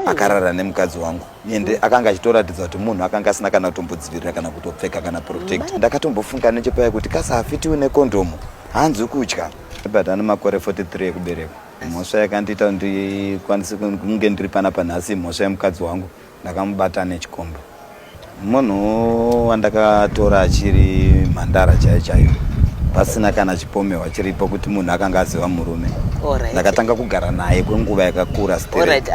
akarara nemukadzi wangu ende akanga achitoratidza kuti munhu akanga asina kana kutombodzivirira kana kutopfeka kana protect ndakatombofunga nechepaya kuti kasahafitiwi nekondomu hanzi kutya but ane makore 43 ekuberekwa mhosva yakandiita ndikwanise kunge ndiri pana panhasi mhosva yemukadzi wangu ndakamubata nechikomba Munhu wandakatora achiri mhandara chaiyo chaiyo pasina kana chipomerwa chiripo kuti munhu akanga aziva murume ndakatanga kugara naye kwenguva yakakura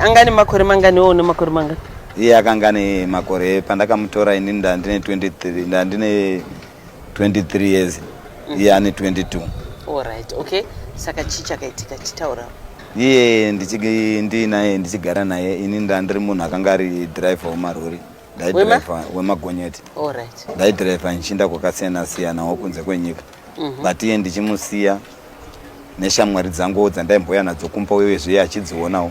anga ne makore mangani wo nemakore mangani iye akanga ne makore pandakamutora ini ndandine 23 ndandine 23 years mm. iye ane 22 alright okay saka chii chakaitika chitaura iye ndiinaye ndichigara naye ini ndandiri munhu akanga ari driver wemarori ndaidriver wemagonyeti alright ndaidriver ndichiinda kwakasiyana siyana wokunze kwenyika mm -hmm. but iye ndichimusiya neshamwari dzanguwo dzandaimboya nadzo kumba uyezve iye achidzionawo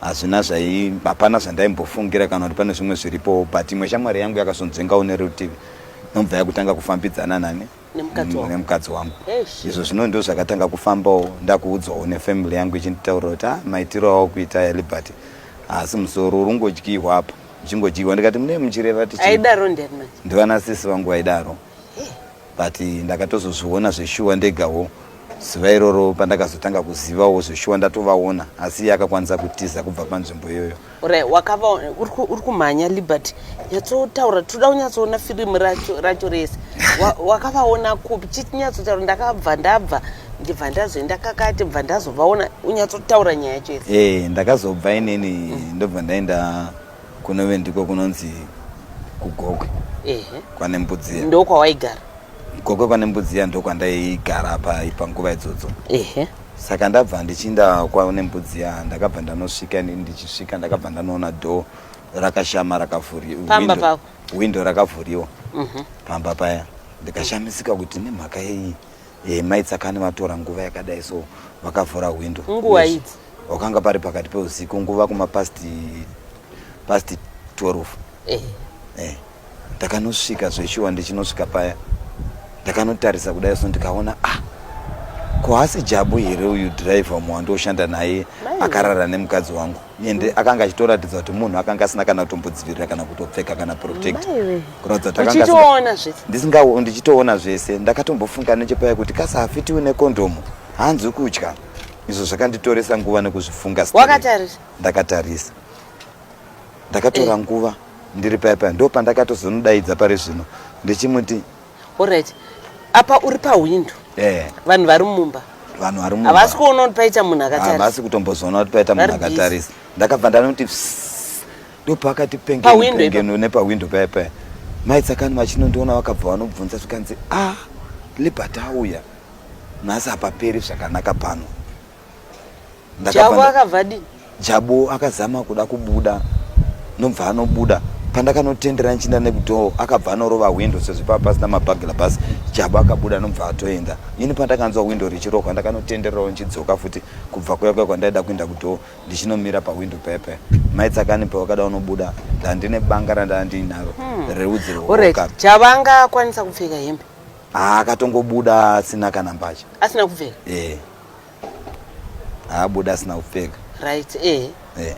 Hazvina zvai, hapana zvandaimbofungira kana kuti pane zvimwe zviripo but imwe shamwari yangu yakazonzvengawo nerutivi nobva yakutanga kufambidzana nani nemukadzi mm, wangu izvo zvino ndo zvakatanga kufambawo ndakuudzawo nefamily yangu ichinditaurira kuti ah, maitiro awo kuita ya liberty haasi musoro urungodyihwa apa uchingodyihwa ndikati mune muchireva tichi ndivana sisi vangu vaidaro but ndakatozozviona zveshuwa ndegawo zuva iroro pandakazotanga kuzivawo zveshuwa ndatovaona asi iye akakwanisa kutiza kubva panzvimbo iyoyo ure wakava uri kumhanya liberty nyatsotaura tinoda kunyatsoona firimu racho racho rese wakavaona kupi chiti nyatsotaura ndakabva ndabva ndibva ndazoenda kakati bva ndazovaona unyatsotaura nyaya yacho yese ee eh, ndakazobva inini ndobva ndaenda kunove ndiko kunonzi kugokwe kwane mbudziya ndo kwawaigara gokwe kwane mbudziya ndo kwandaigara panguva idzodzo saka ndabva ndichinda kwane mbudziya ndakabva ndanosvika ndichisvika ndakabva ndanoona dho rakashama rakavhuriwa windo rakavhuriwa mhm. pamba paya ndikashamisika kuti nemhaka yei hey, eh, mai tsakani vatora nguva yakadai so vakavhura hwindo nguva idzi wakanga pari pakati peusiku nguva kuma past past 12 eh. eh. ndakanosvika zveshuwa ndichinosvika paya ndakanotarisa kudai so ndikaona ah ko hasi jabu here uyu driver umo wandioshanda naye akarara nemukadzi wangu ende akanga achitoratidza kuti munhu akanga asina kana kutombodzivirira kana kutopfeka kana protect kuratidza kuti ndisingawo ndichitoona zvese ndakatombofunga nechepaya kuti kasahafiti une kondomu hanzi kutya izvo zvakanditoresa nguva nekuzvifunga wakatarisa ndakatarisa ndakatora eh. nguva ndiri paya paya ndo pandakatozonodaidza pari zvino ndichimuti Alright. Apa uri pahwindo. Eh. Vanhu vari mumba. Vanhu vari mumba. Havasi kuona kuti paita munhu akatarisa. Havasi kutombozoona kuti paita munhu akatarisa. Ndakabva ndanoti ndopakati pengeno nepahwindo paya paya. Mai Tsakani vachinondiona vakabva vanobvunza zvikanzi ah Liberty auya. Nhasi hapaperi zvakanaka pano. Jabu akabva di Jabu akazama kuda kubuda nobva anobuda pandakanotendera nchinda nekudhoo akabva anorova windo sezvo pava pasina mabhagila bus jabu akabuda anobva atoenda ini pandakanzwa windo richirokwa ndakanotenderawo nchidzoka futi kubva kuya kuya kwandaida kuenda kudhoo ndichinomira pawindo pepe mai tsakani pawakada unobuda ndandine banga randava ndiinaro hmm. reudzi rwooka jabu anga akwanisa kupfeka hembe akatongobuda asina kana mbacha asina kupfeka e. haabuda asina kupfeka right eh eh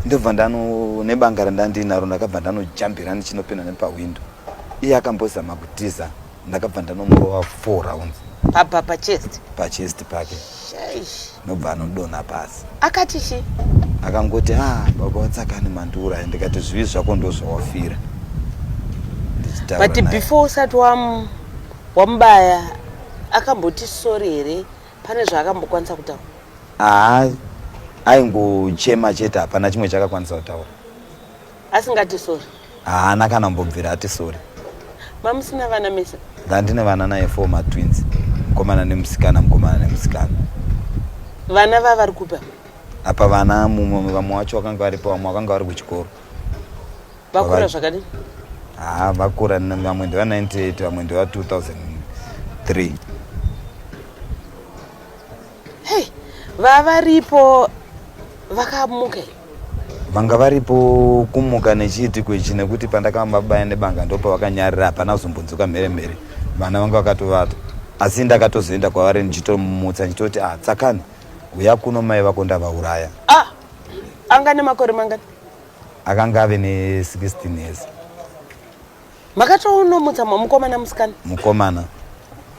ndobva ndano nebanga randandinaro ndakabva ndanojambira ndichinopinda nepahwindo iye akambozama kutiza ndakabva ndanomurova four rounds pabva pachest pachest pake nobva anodona pasi akati chi akangoti a ah, baba watsakani mandiuraya ndikati zvivi zvako ndozvawafira but before usati wamubaya akamboti sorry here pane zvaakambokwanisa kutaura haa aingochema chete hapana chimwe chakakwanisa kutaura asingati sorry haana kana mbobvira ati sorry mamusina vana mese ndandine vana naye four matwins mukomana nemusikana mukomana nemusikana vana va vari kupa apa vana mumwe vamwe wacho vakanga varipo vamwe vakanga vari kuchikoro vakura zvakadii haa vakura vamwe ndeva 98 vamwe ndeva 2003 hei vavaripo vakamuka vanga varipo kumuka nechiitiko ichi nekuti pandakavamba baya nebanga ndopa vakanyarira hapana kuzombunzuka mhere mhere vana vanga vakatovata asi ndakatozoenda kwavari ndichitomumutsa ndichitoti ah tsakani uya kuno mai vako ndavauraya ah anga nemakore mangani Akanga ave ne 16 years. Makatoonomutsa mukomana musikana? Mukomana.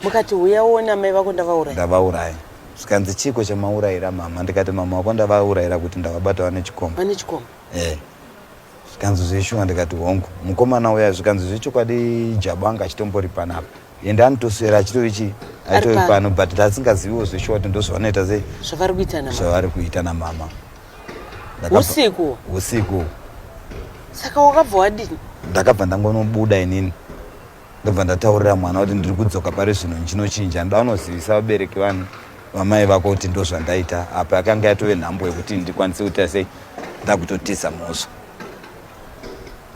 Mukati huya uone amai vako ndavauraya. Ndavauraya. Zvikanzi chiko chamaurayira mama ndikati mama wako ndavaurayira kuti ndavabata vane chikomba. Vane chikomba. Eh. Zvikanzi zveshuwa ndikati hongu. Mukomana uya zvikanzi zvechokwadi jabo anga achitombori panapa. Ende anotoswera achitovi chi aitovi pano but tasingaziviwo zveshuwa kuti ndozvavanoita sei. Zvavari kuita na mama. Zvavari kuita na mama. usiku usiku saka wakabva wadini ndakabva ndangonobuda inini ndobva ndataurira mwana kuti ndiri kudzoka pari zvino ndinochinja ndoda unozivisa vabereki vanhu vamai vako kuti ndo zvandaita apa yakanga yatove nhambo yekuti ndikwanise kuita sei ndakutotiza mhosva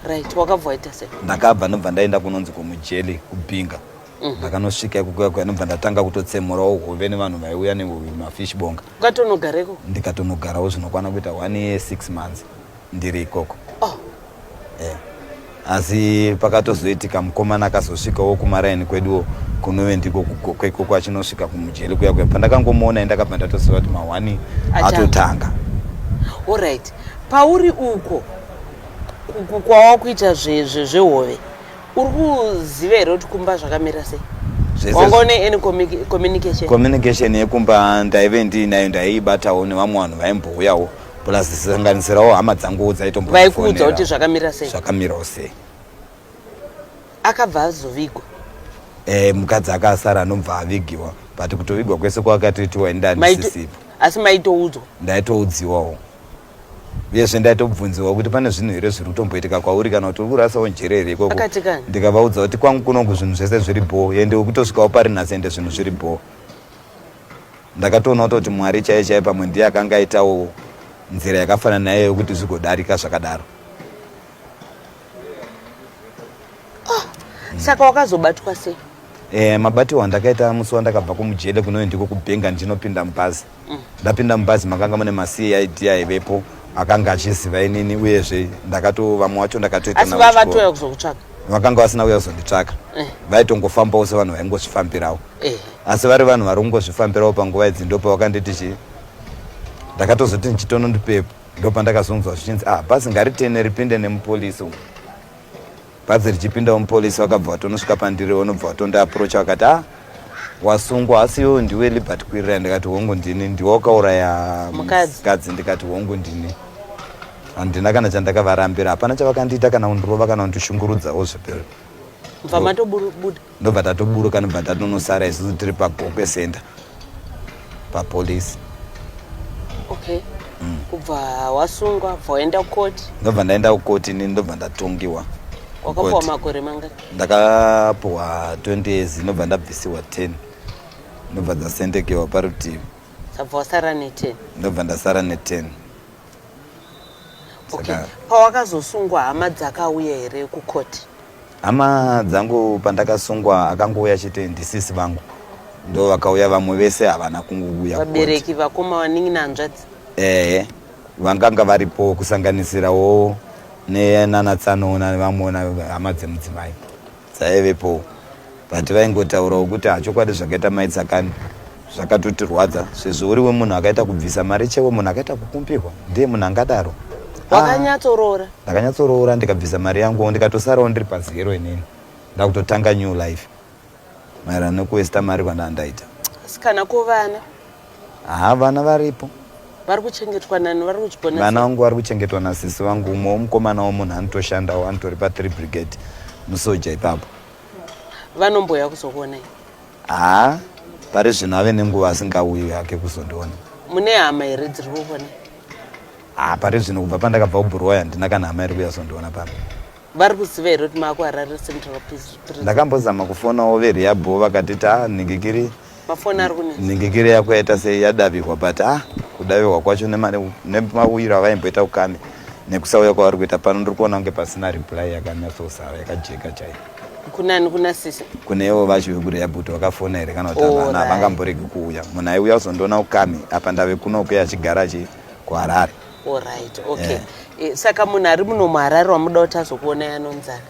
right wakabva waita sei ndakabva ndobva ndaenda kunonzi kwomujeli kubhinga Mhm. ndakanosvika mm -hmm. ekukwekwa ndobva ndatanga kutotsemurawo hove nevanhu vaiuya nemafish bonga ukatonogareko ndikatonogarawo zvinokwana kuita one year six months ndiri ikoko oh. yeah. asi pakatozoitika mukomana akazosvikawo kumaraini kweduwo kunove ndiko kwekoko achinosvika kumujeri kuya kuya pandakangomuona ndakabva ndatoziva kuti mahwani atotanga orit pauri uko kwawakuita zvezvehove zve, zve uri kuziva here kuti kumba zvakamira sei wanga une any communication communication yekumba ndaive ndiinayo ndaiibatawo nevamwe vanhu vaimbouyawo plus zisanganisirawo hama dzanguwo dzaitombovaikuudza kuti zvakamira sei zvakamirawo sei akabva azovigwa eh mukadzi akasara anobva avigiwa but kutovigwa kwese kwakatoitiwa indanisisipo asi maitoudzwa ndaitoudziwawo uyezve ndaitobvunziwa kuti pane zvinhu here zviri kutomboitika kwauri kana kuti uri kurasawo njere here ikoko ndikavaudza kuti kwangu kunongu zvinhu zvese zviri bhoo ende ukutosvikawo pari nhasi ende zvinhu zviri bhoo ndakatoona kutoti mwari chaiye chaiye pamwe ndiye akanga aitawo nzira yakafanana naye yokuti zvigodarika zvakadaro Oh, saka wakazobatwa sei? Eh, mabatiwo andakaita musi wandakabva kumujele kunoyo ndiko kubhenga ndinopinda mubhazi. Mm. Ndapinda mubhazi makanga mune maCID aivepo akanga achiziva inini uyezve ndakato vamwe wacho ndakatoita navo. Asi vavatoya kuzokutsvaka. Vakanga vasina kuya kuzonditsvaka. Eh. Vaitongofambawo sevanhu vaingozvifambirawo. Eh. Asi vari vanhu vari kungozvifambirawo panguva idzi ndopo vakanditi chii? Ndakatozoti ndichitono ndipepo. ndopandakazonzwa zvichinzi ah bhazi ngaritene ripinde nemupolisi umu bhazi richipindawo mupolisi wakabva watonosvika pandiri wanobva watondiaprocha wakati ah wasungwa asi iwewe ndiwe libert kwirira ndikati hongu ndini ndiwe wakauraya mukadzi ndikati hongu ndini handina kana chandakavarambira hapana chavakandiita kana kundirova kana kundishungurudzawo zvepero mva matobuda ndobva tatoburuka ndobva tatonosara isusu tiri pagokwe center papolice okay mm. kubva wasungwa bva waenda kukoti ndobva ndaenda kukoti ini ndobva ndatongiwa wakapuwa makore mangani ndakapuwa 20 years ndobva ndabvisiwa 10 ndobva dzasendekewa parutivi sabva wasara ne10 ndobva ndasara ne10 okay. pawakazosungwa hama dzakauya here kukoti Hama dzangu pandakasungwa akangouya chete ndisisi vangu ndo vakauya vamwe vese havana kungouya. Vabereki vakoma vaningi nanzvadzi. Eh, vanganga varipo kusanganisirawo nenana tsano nevamwe hama dzemudzimai dzaivepo but vaingotaurawo kuti hachokwadi zvakaita mai tsakani zvakatotirwadza sezvo uri wemunhu akaita kubvisa mari chewe munhu akaita kukumbirwa ndiye munhu angadaro ah. wakanyatsoroora ndakanyatsoroora ndikabvisa mari yangu ndikatosarawo ndiri pazero inini ndakutotanga new life maererano nekuwesta mari kwandaa ndaita asi kana ko vana haa vana varipo vari kuchengetwa nani vari kuchigona vana vangu vari kuchengetwa nasisi vangu umwe womukomana womunhu anotoshandawo anotori pathree brigade musoja ipapo vanomboya kuzokuonai Haa pari zvino ave nenguva asingauyi hake kuzondiona. Mune hama here dziri kukona? Haa pari zvino kubva pandakabva kubhuroya handina kana hama iri kuuya kuzondiona pano. Vari kuziva here kuti maakuharare central prison? Ndakambozama kufonawo veriyabho vakati ta ah, nhingikiri mafoni ari kunetsa nhingikiri yako yaita sei yadavihwa but ah kudavihwa kwacho nemauyiro avaimboita kukame nekusauya kwavari kuita pano ndiri kuona kunge pasina reply yakanyatsosara yakajeka chaiyo kunani kuna sisi kunewo vacho vekureya bhuti wakafona here kana kuti oh, havana havangamboregi kuuya munhu aiuya kuzondiona ukami apa ndave kuno kuya achigara achi kuharare orit oh, okay yeah. e, saka munhu ari muno muharare wamuda kuti azokuonai anonzani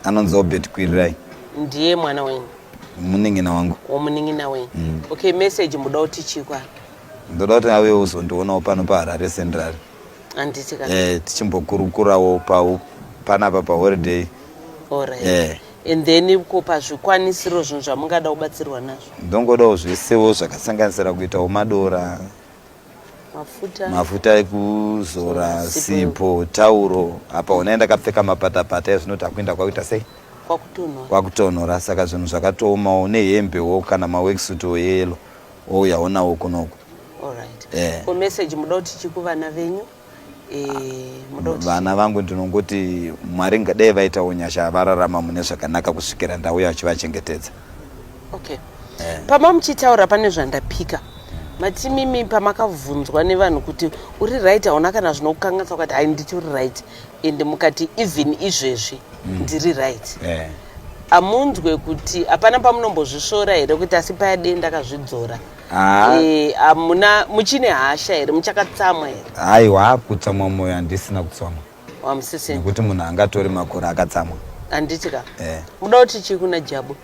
anonzi obert kwirirai ndiye mwana wenyu munin'ina wangu womunin'ina wenyu mm. okay message muda kuti chikwa ndoda kuti awe uzondionawo pano paharare central handiti ka eh, tichimbokurukurawo pau panapa paholiday Alright. eh, and then ko pazvikwanisiro zvinhu zvamungada kubatsirwa nazvo ndongodawo zvesewo zvakasanganisira kuitawo madora mafuta mafuta ekuzora Sipo. sipo tauro apa unaye ndakapfeka mapatapata ezvinoti akuenda kwakuita sei kwakutonhora kwakutonhora saka zvinhu zvakatoomawo nehembewo kana maweksuto yeyelo ouyawo nawo kunoku Alright. Eh. Ko message muda kuti chii kuvana venyu? Eh, muda kuti Vana vangu ndinongoti Mwari ngadai vaitawo nyasha vararama mune zvakanaka kusvikira ndauya achivachengetedza. Okay. Eh. Pama muchitaura pane zvandapika. Mati mimi pamakabvunzwa nevanhu kuti uri right hauna kana zvinokukanganisa ukati hai nditi uri right and mukati even izvezvi ndiri right. Eh. Amunzwe kuti hapana pamunombozvisvora here kuti asi paya dee ndakazvidzora. Ah. Eh, hamuna muchine hasha here muchakatsamwa here haiwa kutsamwa moyo handisina kutsamwa wamusisina nekuti munhu angatore makore akatsamwa handiti ka Eh. muda kuti chii kuna jabu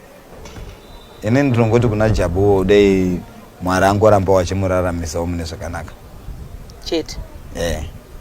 ini ndinongoti kuna jabuwo dei mwari angoramba wachimuraramisawo mune zvakanaka chete Eh.